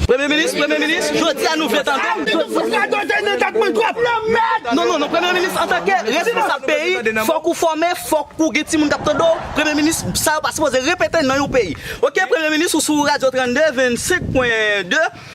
Premye minis, premye minis, jodi a nou vle tande w. Mwen fou sa do te nan kat mwen trop. Nan mèd! Non non non premye minis antake responsab peyi fok ou fòme fok ou gen timoun kap tande w premye minis sa yo pa sipoze repete nan yon peyi ok premye minis ou sou radyo 32 25 pwen 2.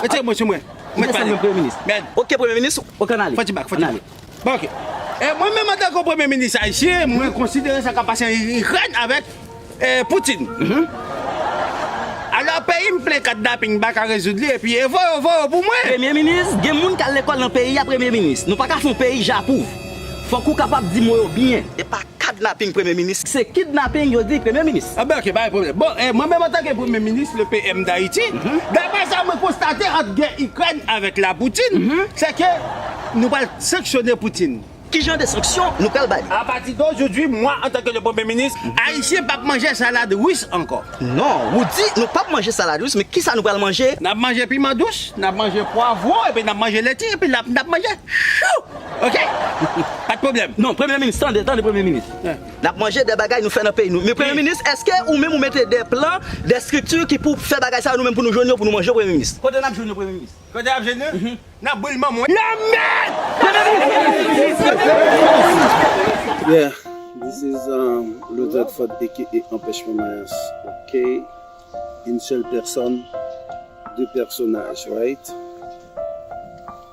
Retire mwen sou mwen. Ou desann mwen premye minis. Ok premye minis, ok an ale. Fò ti bak, fò ti bak. Bon ok. E mwen menm antan ke premye minis ayisyen, mwen konsidere sa kap pase an Ikrèn avèk Poutin. Alò peyi m plen kadnaping m paka rezoud li epi e voyo voyo pou mwen. Premye minis, gen moun k al lekòl nan peyi a premye minis. Nou paka fè yon peyi japouv. Fok ou kapab di mo yo byen. E pa kadnaping premye minis. Se kidnaping yo di premye minis. Bon ok pa gen pwoblèm. Bon mwen menm antanke premye minis le PM d'Haiti, daprè sa mwen konstate ant gè Ikrèn avèk la Poutine, se ke nou pral sanksyone Poutine. Ki jan de sanksyon nou pral ba li? A pati d'aujourd'hui mwen antanke le premye minis, Ayisyen pap manje salad Russe ankò. Non, wou di nou pap manje salad Russe, men kisa nou pral manje? Nap manje piman dous, nap manje pwavwon epi nap manje leti epi nap manje chou! Ok Pat problem non premye minis tande tande premye minis nap manje de bagay nou fè nan peyi nou men premye minis eske ou menm ou mete de plan de strikti ki pou fè bagay sa yo nou menm pou nou jwenn yo pou nou manje yo premye minis. Kote nap jwenn yo premye minis. Kote nap jwenn yo nan boul manman w. Nan mèd premye minis premye minis. Yeah this is Luther Ford aka Anpèchman Mayans ok yn sèl pèsòn de pèsonaj right.